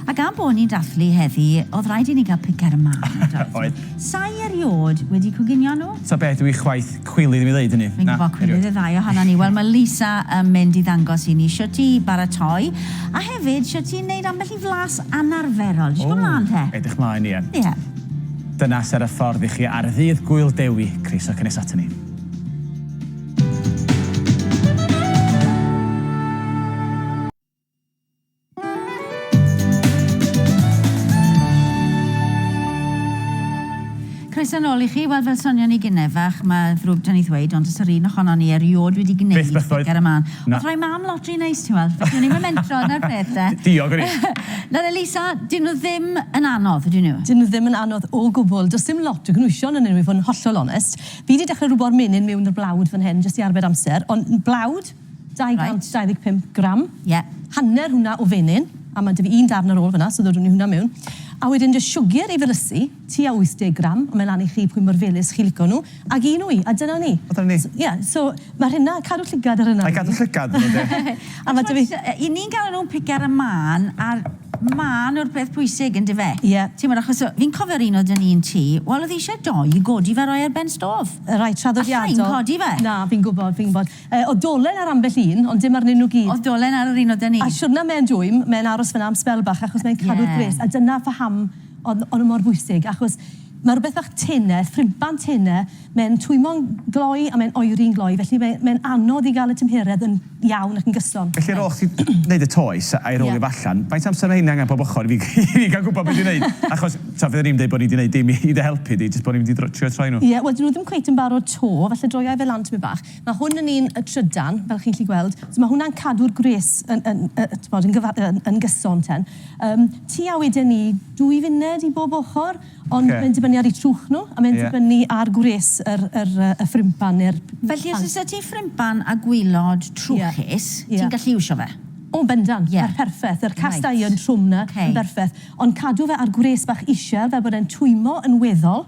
A gan bo' ni'n dathlu heddi, o'dd raid i ni ga'l pic ar y man, yn doedd? Oedd. Sai eriôd wedi coginio nhw. Ta beth yw 'i chwaeth cwilydd i mi ddeud hynny. Fi'n gwbo cwilydd y ddau ohonon ni. Wel, mae Lisa yn mynd i ddangos i ni shwt i baratoi, a hefyd shwt i neud ambell i flas anarferol. Dw isie gwbo mlan te. O, edrych mlaen, ie. Ie. Dyna ser y ffordd i chi ar ddydd Gŵyl Dewi, croeso cynnes aton ni. Croeso nôl i chi. Wel, fel sonion ni gynne fach, mae ddrwg 'da ni ddweud, ond does yr un ohonon ni eriôd wedi gwneud... Byth byth doedd. ...gig ar y man. Na. Ond roi mam lot rhy neis, ti'n weld, felly o'n i'm yn mentro, 'na'r peth de. Diog o'n i. Nawr Elisa, 'dyn nhw ddim yn anodd, ydyn nhw? 'Dyn nhw ddim yn anodd o gwbl. Does dim lot o gynhwysion ynnyn nhw i fod yn hollol onest. Fi 'di dechre rwbo'r menyn miwn 'r blawd fan hyn jyst i arbed amser, ond blawd? 225 gram. Ie. Hanner hwnna o fenyn, a ma' 'da fi un darn ar ôl fan'na, so ddodwn ni hwnna mewn. A wedyn jyst siwgr i felysu, tua 80 gram, a mae lan i chi pwy mor felys chi'n lico nhw, ac un wy, a dyna ni. A dyna ni. Ie, so ma' rheina, cadw llygad ar rheina. Rhaid cadw llygad arnyn nhw, ynde. A ma' 'da fi... Achos 'yn ni'n galw nhw'n piga'r a mân, a'r mân yw'r peth pwysig, yndyw e? Ie. Timod, achos o- fi'n cofio'r un oedd 'da ni'n tŷ, wel, oedd e eisiau dou i godi fe a rhoi e ar ben stôf. Reit traddodiadol. A sa i'n codi fe. Na, fi'n gwybod, fi'n gwybod. Yy, o dolen ar ambell un, ond dim arnyn nhw gyd. O dolen ar yr un o da ni. A siwrna me'n dwym, me'n aros fynna am sbel bach achos me'n cadw'r gwres. Ie. A dyna phaham o'n o'n nhw mor bwysig achos ma' rwbeth fach tene, ffriban tene, me'n twymo'n gloi a me'n oeri'n gloi felly mae me'n anodd i ga'l y tymheredd yn iawn ac yn gyson. Felly ar ôl chdi neud y toes a'i rowlio fo allan, faint o amser ma' rhein angen pob ochr i fi i fi ga'l gwbo be' dwi neud? Achos Taf fydden ni'm deud bod ni 'di neud dim i dy helpu di, jyst bod ni'm 'di dr- trio troi nhw. Ie, wel 'dyn nhw ddim cweit yn barod 'to, falle droia fe lan tipyn bach. Ma' hwn yn un y trydan, fel chi'n 'llu gweld, so ma' hwnna'n cadw'r gwres yn yn yy t'mod yn gyfa- yn yn gyson ten. Yym, tua weden ni dwy funed i bob ochor, ond Oce. mae'n dibynnu ar 'u trwch nhw, a mae'n Ie. dibynnu ar gwres yr yr yy y ffrympan ne'r p- pant. Felly os oes 'da ti ffrympan a gwilod trwchus, Ie. Ie. ti'n gallu iwsio fe? O, yn bendant. Ie. Ma'n perffeth. Yr cast iron trwm 'na Oce. yn berffeth. Ond cadw fe ar gwres bach isel fel bod e'n twymlo yn weddol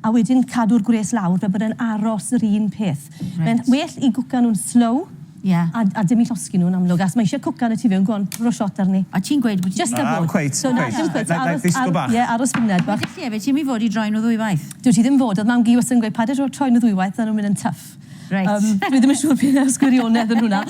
a wedyn cadw'r gwres lawr fel bod e'n aros yr un peth. Mae'n well i gwcan nhw'n slow a a dim i llosgi nhw'n amlwg achos mae eisiau cwcan y tu fewn. Go on, rho shot arni. A ti'n gweud bod ti... Jyst ar bod. Cweit, cweit. Na, dim cweit. Aros, disgwl bach. Ie, aros funud bach. Wedest ti hefyd ti ddim i fod i droi nhw ddwywaith. Dwyt ti ddim fod, oedd mam-gu wastad yn gweud paid â troi nhw ddwywaith, maen nhw'n mynd yn tuff. Reit. Yym dwi ddim yn siŵr be' o'dd gwirionedd yn hwnna.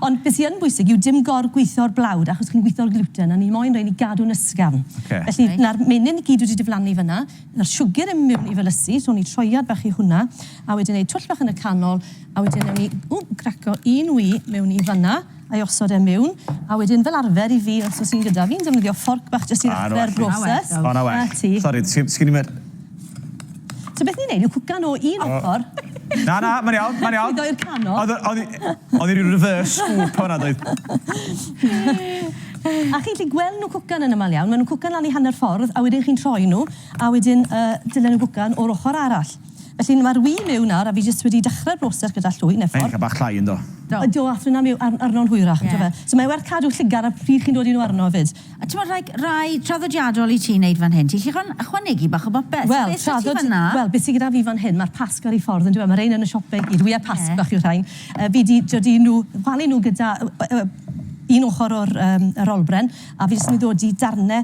Ond be' sy yn bwysig yw dim gor-gwitho'r blawd achos chi'n gwitho'r gluten a ni moyn rhein i gadw'n ysgafn. Ocê. Felly na'r menyn i gyd wedi diflannu fyn 'na, na'r siwgr yn mynd mewn i fy lysi, so ni troiad bach i hwnna, a wedyn neud twll bach yn y canol, a wedyn newn ni, ww, graco un wy mewn i fyn 'na. a'i osod e mewn a wedyn fel arfer i fi os o's un gyda fi'n defnyddio fforc bach jyst i ddechre'r broses. O 'na well. 'Na ti. Sori sgin i'm yr... So beth ni'n neud yw cwcan o un ochor... Na na ma'n iawn ma'n iawn. ...a llwyddo i'r canol. O'dd o- o'dd 'i o'dd 'i ryw reverse scoop o' 'na doedd? A chi'n gallu gweld nhw'n cwcan yn amal iawn ma' nhw'n cwcan lan i hanner ffordd a wedyn chi'n troi nhw a wedyn yy dylen nhw gwcan o'r ochor arall. Felly mae'r ŵyn miwn nawr a fi jyst wedi dechrau'r broses gyda llwy neu fforc. Mae'n eitha bach llai yndo? Ydio a thwyn arno'n hwyrach yndyw e? So mae werth cadw lligar ar pryd chi'n dodi nhw arno hefyd. A timod rhai rhai traddodiadol i ti neud fan hyn? Ti'n gallu ychwanegu bach o bopeth. Wel traddod- wel beth sy gyda fi fan hyn ma'r Pasg ar ei ffordd yndyw e? Ma' rein yn y siop i gyd. Ŵyau Pasg bach yw rhain. Yy fi di dodi nhw palu nhw gyda yy yy un ochr o'r yym yr olbren a fi jyst yn mynd i ddodi darne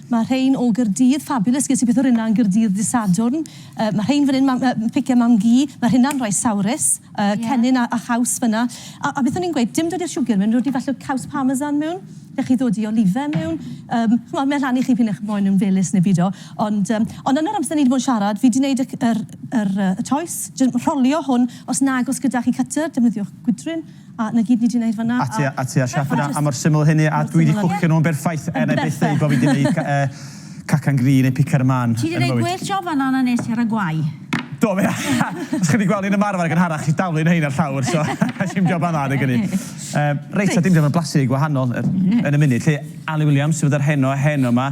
Mae rhein o Gaerdydd, fabulous, ges i peth o'r un 'na yn Gaerdydd dydd Sadwrn. Yy mae rhein fan 'yn, mam- yy pice mam-gu, mae rheina'n rhai sawrus, yy Ie. cennin a a chaws fan 'na. A a beth o'n i'n gweud, dim dod i'r siwgr mewn, dod i falle caws parmesan mewn, gallech chi ddodi olive mewn, yym ch'mod mae'n rhan i chi p'un ych moyn yn felys neu bido. Ond yym ond yn yr amser ni 'di bod yn siarad fi 'di neud y c- yr yr yy y toes, jyst rholio hwn, os nag o's gyda chi cutter defnyddiwch gwydryn. A 'na gyd ni 'di neud fan 'na. A ti a ti a Shaq fan 'na a mor syml a hynny a dwi 'di cwcio nhw'n berffaith er 'na i byth ddeud bo' fi 'di neud cacan gri neu picar y man yn fy mywyd. Ti 'di neud gwell job fan 'na na nes i ar y gwae. Do fe? Os chi 'di gweld fi'n ymarfer yn gynharach chi daflu rhein ar llawr so nes i'm joban dda adeg ynny. Reit a dim joban blasu gwahanol yn y munud 'lly. Ali Williams sydd â'r heno heno 'ma.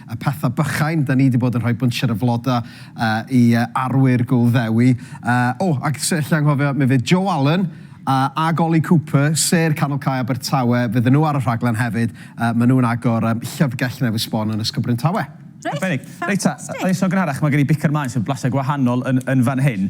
y pethau bychain, da ni di bod yn rhoi bwnsier o flodau i arwyr Gŵyl Ddewi. O, ac lle anghofio, mi fydd Joe Allen a Goli Cooper, sêr Canol Cae Abertawe, fydden nhw ar y rhaglen hefyd, ma nhw'n agor Llyfrgell Newydd Sbon yn Ysgol Bryntawe. Reit, ffantastig. Reit ta, oes 'na gynharach, ma gen i bicer maen sy'n blasu gwahanol yn fan hyn.